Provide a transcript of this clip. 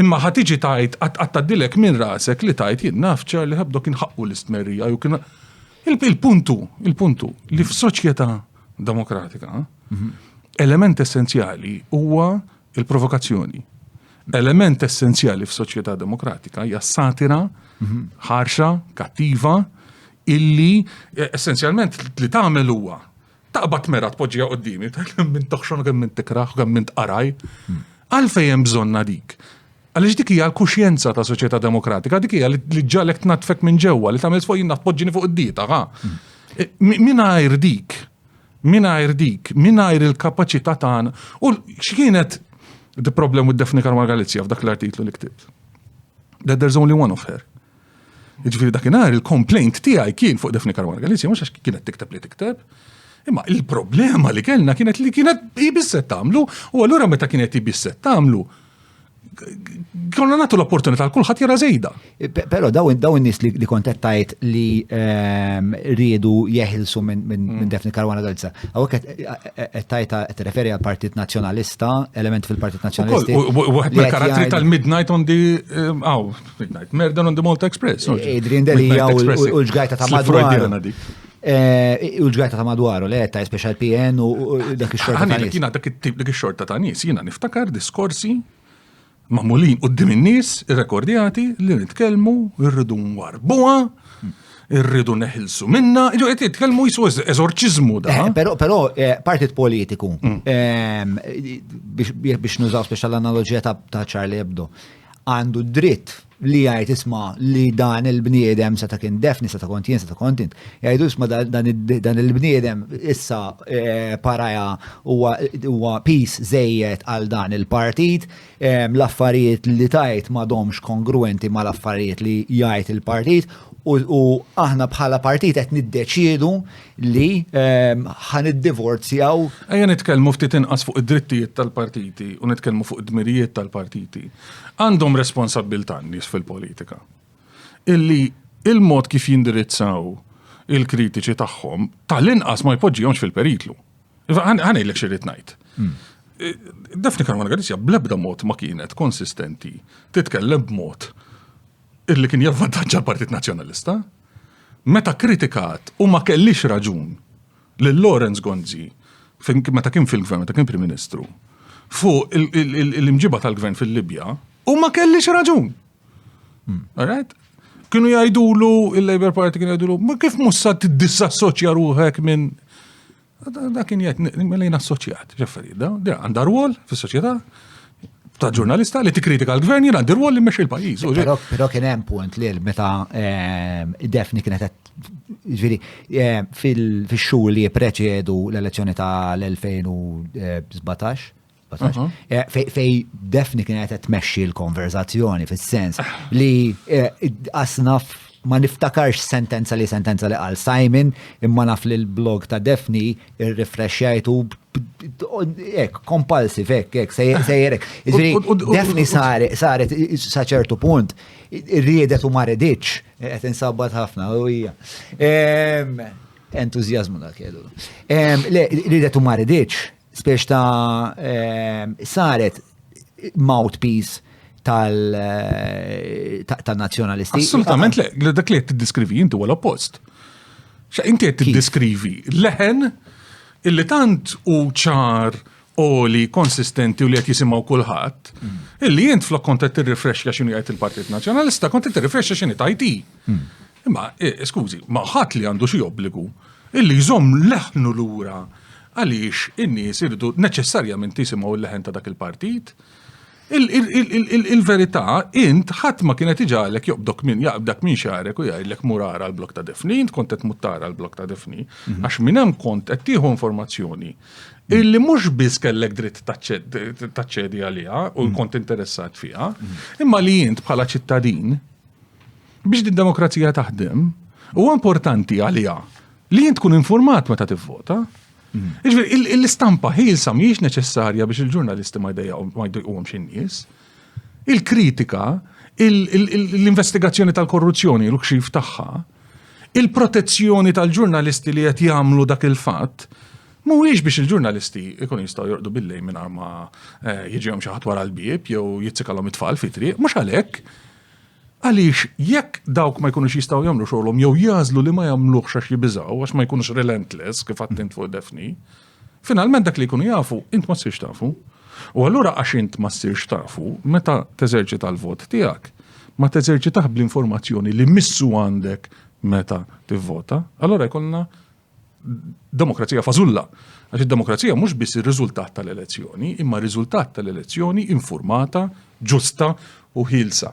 Imma ħa tiġi tgħid, qatt qatt tgħaddilek minn rasek li tgħid jien naf Charlie Hebdo kien ħaqqu l-istmerrija jew kien Il-punt hu, il-punt hu li f'soċjetà demokratika mhm. element essenzjali huwa il-provokazzjoni. Element essenzjali f'soċjetà demokratika hija satira mhm. ħarxa, kattiva, illi eh, essenzjalment li tagħmel huwa Taqbad mera tpoġġija qoddimi, kemm minn toħxon u kemm minn tikraħ u kemm minn tqaraj. Għalfejn hemm bżonna dik? Għaliex dik hija l-kuxjenza ta' soċjetà demokratika, dik hija li ġalek tnatfek minn ġewwa, li tagħmel fuq jinnat poġġini fuq id-dieta, ha. E, mingħajr dik, mingħajr dik, mingħajr il-kapaċità tagħna. U x'kienet the problem with Daphne Karma Galizja f'dak l-artiklu li ktibt? That there's only one of her. Ġifiri dakinhar il-complaint tiegħi kien fuq Defni Karwana Galizja mhux għax kienet tikteb li tikteb. Imma il-problema li kellna kienet li kienet jibisset tagħmlu u allura meta kienet jibisset tagħmlu konna nagħtu l-opportunità għal kulħadd jara żejda. Eh, però daw daw in-nies li kontet tajt li ehm, riedu jeħilsu minn mm. Defni Karwana Galizja. Hawnhekk qed eh, eh, tajt qed referi għal Partit Nazzjonalista, element fil-Partit Nazzjonalisti. Wieħed mill-karattri tal-Midnight on the ehm, Midnight Murder on the Malta Express. Adrian Delia u l-ġgajta ta' madwar. Eh, u l-ġgajta ta' madwar, u le ta' special PN u dak il-xorta ta' nis. Jina dak il-tip dak il-xorta ta' nis, jina niftakar diskorsi mamulin u d-dim nis rekordjati li nitkelmu irridu nwarbuha irridu neħilsu minna, ġo għet jitkelmu jisu eżorċizmu da. Eh, pero, pero, eh, partit politiku, mm. ehm, biex nużaw speċjal analogija ta' Charlie Hebdo, għandu d-dritt li jgħid isma li dan il-bniedem sa ta' kien defni, sa ta' kont jien, sa ta' kont int. Jgħidu isma dan il-bniedem issa eh, paraja huwa pis zejjed għal dan il-partit, eh, l-affarijiet li tajt ma domx kongruenti ma l-affarijiet li jgħid il-partit u aħna bħala partit qed niddeċiedu li ehm, ħan id-divorzjaw. Ejja nitkellmu ftit inqas fuq id-drittijiet tal-partiti u nitkellmu fuq id-dmirijiet tal-partiti. Għandhom responsabbiltà nies fil-politika. Illi il-mod kif jindirizzaw il-kritiċi tagħhom tal-inqas ma jpoġġihomx fil-periklu. Ħanejlek xirrit ngħid. Hmm. Eh, Defni Karwana Galizja blebda mod ma kienet konsistenti titkellem b'mod illi kien javvantaġġa l-Partit Nazzjonalista. Meta kkritikat, u ma kellix raġun, lil Lawrence Gonzi, meta kien fil-Gvern, meta kien Prim Ministru, fuq l-imġiba tal-Gvern fil-Libja, u ma kellix raġun. Alright? Kienu jgħidulu, il-Labour Party kienu jgħidulu, ma kif mussa t-dissassoċja ruħek minn Da kien jgħid mela mill-lejn assoċjat, ġifieri, da għandha rwol fis-soċjetà ta' ġurnalista li tikkritika l-gvern jien għandi rwol li mmexxi l-pajjiż. Però kien hemm punt li meta ehm, Defni kienet ġifieri ehm, fil-xhur li jippreċedu l-elezzjoni tal-2017 Eh, fej defni kienet qed tmexxi l-konverzazzjoni fis-sens li eh, asnaf ma niftakarx sentenza li sentenza li qal Simon imma naf li l-blog ta' Defni irrifrexxajtu ek, kompulsive, ek, ek, sejjerek. Defni saret, saret, saċertu punt, riedet u marediċ, et insabbat ħafna, u hija. Entuzjazmu da kellu. Le, riedet u marediċ, Spiex ta' saret mouthpiece tal-nazjonalisti. Assolutament le, dak li qed tiddiskrivi inti huwa l-oppost. Xa inti qed tiddiskrivi leħen illi tant u ċar oli konsistenti u li qed jisimgħu kulħadd, mm. illi int flok kont qed tirrifrexxa x'inhu jgħid il-Partit Nazzjonalista, kont qed tirrifrexxa x'inhi tajti. Mm. Imma, eh, skużi, ma ħadd li għandu xi obbligu illi jżomm leħnu lura għaliex in-nies irdu neċessarjament jisimgħu l-leħen ta' dak il-partit. Il-verità, int ħadd ma kienet iġalek joqbdok minn jaqbdak minn xarek u jgħidlek murara l-blok ta' defni, int kont qed muttara l-blok ta' defni, mhm. għax minn hemm kont qed tieħu informazzjoni illi mhux biss kellek dritt taċċedi għaliha u mhm. kont interessat fiha, mhm. imma li int bħala ċittadin biex din demokrazija taħdem, huwa importanti għalija li jien tkun informat meta tivvota. Mm. Iġveri, l-istampa ħilsa mhijiex neċessarja biex il-ġurnalisti ma jdejqhom xi nies. Il-kritika, l-investigazzjoni tal-korruzzjoni, l-kxif tagħha, il-protezzjoni tal-ġurnalisti li qed jagħmlu dak il-fatt, Mhuwiex biex il-ġurnalisti ikun jistgħu jorqdu billej minn ma eh, jiġihom xi ħadd wara l-bieb jew jitzikalhom it-tfal fitri, mhux għalhekk. Għaliex, jekk dawk ma jkunux jistgħu jagħmlu xogħolhom jew jagħżlu li ma jagħmluhx għax jibiżgħu, għax ma jkunux relentless kif għadt int fuq Daphne, finalment dak li jkunu jafu, int ma ssirx tafu. U allura għax int ma ssirx tafu, meta teżerċita l-vot tiegħek, ma teżerċitah bl-informazzjoni li missu għandek meta tivvota, allura jkollna demokrazija fażulla. Għax id-demokrazija mhux biss ir-riżultat tal-elezzjoni, imma r-riżultat tal-elezzjoni informata, ġusta u ħilsa.